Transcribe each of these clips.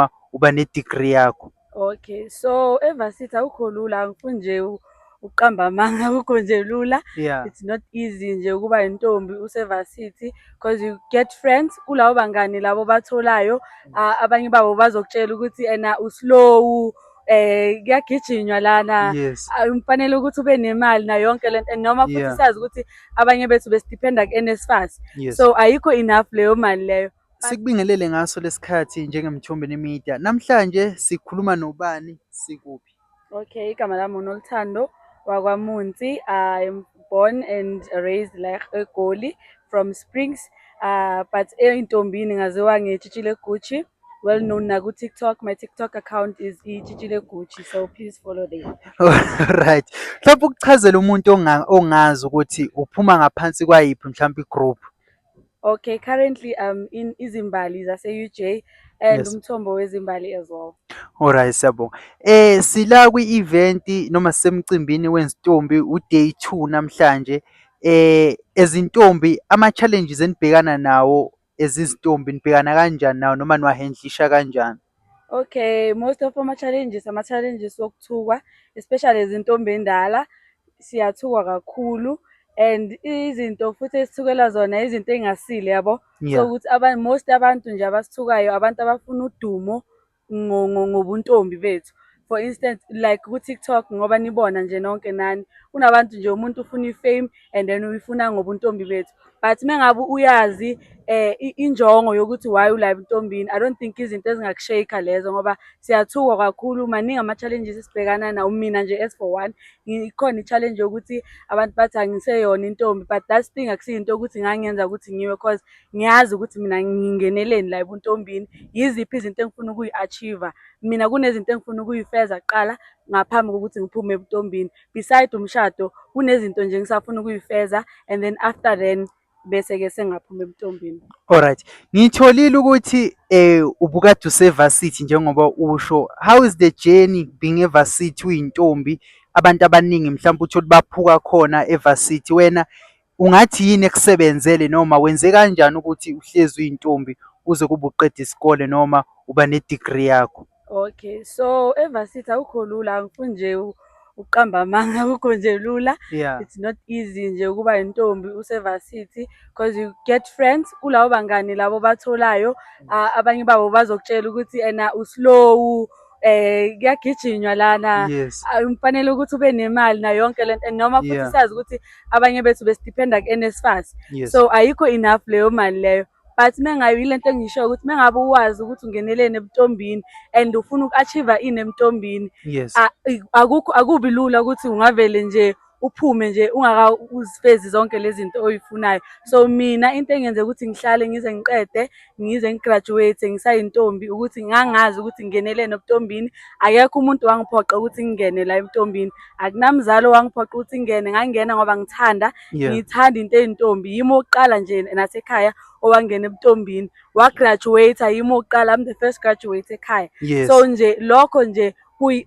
uma uba ne-degree yakho okay so evasithi awukho lula angifuni nje ukuqamba amanga akukho nje lula yeah. it's not easy nje ukuba intombi usevasithi because you get friends kulabo bangani labo batholayo uh, abanye babo bazokutshela ukuthi ena uslow eh kuyagijinywa lana umfanele ukuthi ube nemali na yonke lento noma futhi sazi ukuthi abanye bethu besidependa ku-NSFAS so ayikho enough leyo mali leyo Sikubingelele ngaso lesikhathi njengeMthombeni Media. Namhlanje sikhuluma nobani sikuphi? Okay, igama lami uNoluthando wakwaMunsi. I'm born and raised like eGoli from Springs. Uh, but eNtombini ngaziwa ngeTshitshile Gucci. Well known na ku-TikTok. My TikTok account is iTshitshile Gucci, so please follow there. Alright. Mhlawumbe ukuchazela umuntu onga- ongazi ukuthi uphuma ngaphansi kwayiphi mhlawumbe i-group. Okay, currently I'm in Izimbali zase-UJ and Yes. umthombo wezimbali as well. Alright siyabonga. Eh sila kwi-event noma sisemcimbini wezintombi uday 2 namhlanje. Eh ezintombi ama challenges enibhekana nawo ezizintombi nibhekana kanjani nawo noma niwahendlisha kanjani? Okay, most of ama challenges ama challenges okuthukwa especially izintombi endala siyathukwa kakhulu and izinto futhi esithukela zona izinto engasile yabo yeah. so ukuthi aba most abantu nje abasithukayo abantu abafuna udumo ngobuntombi bethu for instance like ku-tiktok ngoba nibona nje nonke nani kunabantu nje umuntu ufuna i-fame and then uyifuna ngobuntombi bethu but mengabe uyazi eh injongo yokuthi why ulive intombini i don't think izinto ezingakushayika lezo ngoba siyathukwa kakhulu maningi ama-challenges esibhekana nawo mina nje as for one ikhona i-challenge yokuthi abantu bathi angiseyona intombi but that thing akusiyinto yokuthi ngangenza ukuthi ngiwe cause ngiyazi ukuthi mina ngingeneleni la ebuntombini yiziphi izinto engifuna ukuyi-achieve-a mina kunezinto engifuna ukuyifeza kuqala ngaphambi kokuthi ngiphume ebuntombini beside umshado kunezinto nje ngisafuna ukuyifeza and then after then bese-ke sengaphuma ebuntombini alright ngitholile ukuthi eh ubukade usevasithi njengoba usho how is the journey being evasithi uyintombi abantu abaningi mhlawumbe uthole baphuka khona evasithi wena Ungathi yini ekusebenzele noma wenze kanjani ukuthi uhlezi uyintombi uze kube uqeda isikole noma uba ne-degree yakho? Okay, so eVarsity akukho lula, angifuni nje u- ukuqamba amanga, akukho nje lula. Yeah. It's not easy nje ukuba yintombi useVarsity because you get friends kulabo bangani labo obatholayo. Ah, abanye babo bazokutshela ukuthi ena u-slow, eh kuyagijinywa lana yes umfanele ukuthi ube nemali na yonke lento and noma futhi Yeah. siyazi ukuthi abanye bethu besidependa ku-NSFAS yes so ayikho enough leyo mali leyo but mengayo yilento engishoyo ukuthi mengabe uwazi ukuthi ungeneleni ebutombini and ufuna uku-achieve ini emtombini yes a- i- akukho akubi lula ukuthi ungavele nje uphume nje ungakawuzifezi zonke lezi zinto oyifunayo so mina into engenze ukuthi ngihlale ngize ngiqede ngize ngigraduate ngisayintombi ukuthi ngangazi ukuthi ngenelene obutombini akekho umuntu wangiphoqa ukuthi ngingene la ebutombini akunamzali owangiphoqa ukuthi ngingene ngangena ngoba ngithanda ngithanda into eyintombi yimi oqala nje nasekhaya owangena ebutombini wagraduate yimi oqala I'm the first graduate ekhaya so nje lokho nje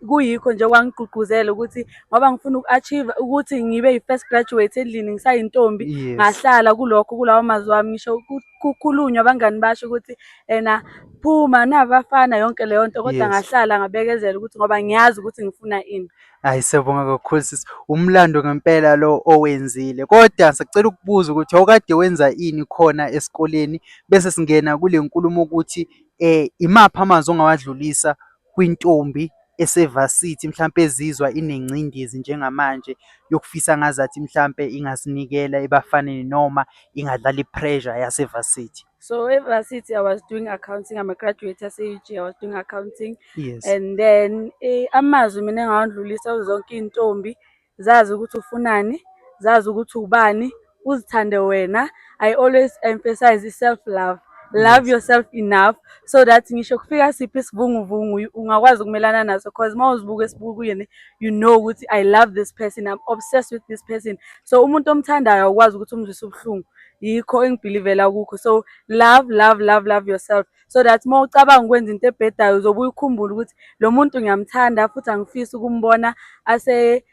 kuyikho nje kwangigqugquzela ukuthi ngoba ngifuna uku-achieve ukuthi ngibe yi-first graduate endlini ngisayintombi ngahlala kulokho kulawo mazwi wami ngisho kukhulunywa abangani basho ukuthi ena phuma nabafana yonke leyo nto kodwa ngahlala ngabekezela ukuthi ngoba ngiyazi ukuthi ngifuna ini hayi siyabonga kakhulu sisi umlando ngempela lo owenzile kodwa sicela ukubuza ukuthi awukade wenza ini khona esikoleni bese singena kule nkulumo ukuthi um imaphi amazwi ongawadlulisa kwintombi ese-varsity mhlampe ezizwa inengcindezi njengamanje yokufisa ngazathi mhlampe ingazinikela ebafaneni noma ingadlala i-pressure yase-varsity? So e-varsity I was doing accounting, I'm a graduate yase-UG, I was doing accounting. Yes. And then eh, amazwi mina engawandlulisa kuzonke iy'ntombi Zazi ukuthi ufunani, zazi ukuthi ubani, uzithande wena. I always emphasize i-self love. Love yourself enough so that ngisho kufika siphi isivunguvungu ungakwazi ukumelana naso because uma uzibuka esibukweni you know ukuthi I love this person, I'm obsessed with this person. So umuntu omthandayo awukwazi ukuthi umzwise ubuhlungu. Yikho engibhilivela kukho. So love, love, love, love yourself. so that uma ucabanga ukwenza into ebhedayo uzobe uyikhumbula ukuthi lo muntu ngiyamthanda futhi angifisi ukumbona ase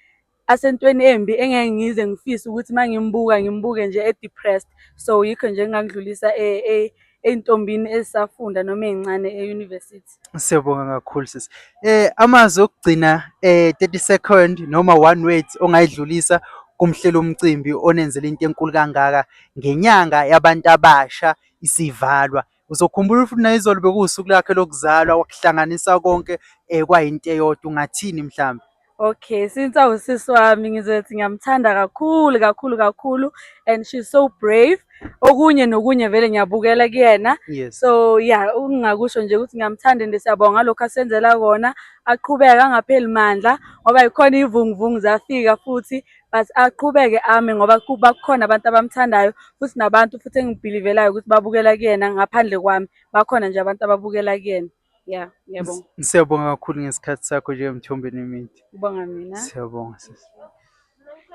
asentweni embi engeke ngize ngifise ukuthi uma ngimbuka ngimbuke nje e-depressed so yikho nje ngingangidlulisa e, e, ey'ntombini ezisafunda noma ey'ncane e-university siyabonga kakhulu sisi eh amazwi okugcina eh 30 second noma one word ongayidlulisa kumhlela umcimbi onenzela into enkulu kangaka ngenyanga yabantu abasha isivalwa Uzokhumbula ukuthi nayizolo bekuwusuku lakhe lokuzalwa wakuhlanganisa konke eh kwayinto eyodwa ungathini mhlawumbe? Okay, since awusisi wami ngizothi ngiyamthanda kakhulu kakhulu kakhulu and she's so brave. Okunye nokunye vele ngiyabukela kuyena. Yes. So yeah, ukungakusho nje ukuthi ngiyamthanda and siyabonga ngalokho asenzela kona. Aqhubeke angapheli mandla ngoba yikhona ivunguvungu zafika futhi but aqhubeke ame ngoba kuba kukhona abantu abamthandayo futhi nabantu futhi engibhilivelayo ukuthi babukela kuyena ngaphandle kwami bakhona nje abantu ababukela kuyena ya ngiyabonga Siyabonga kakhulu ngesikhathi sakho njengemthombeni yemithi. Ubonga mina. Siyabonga sisi.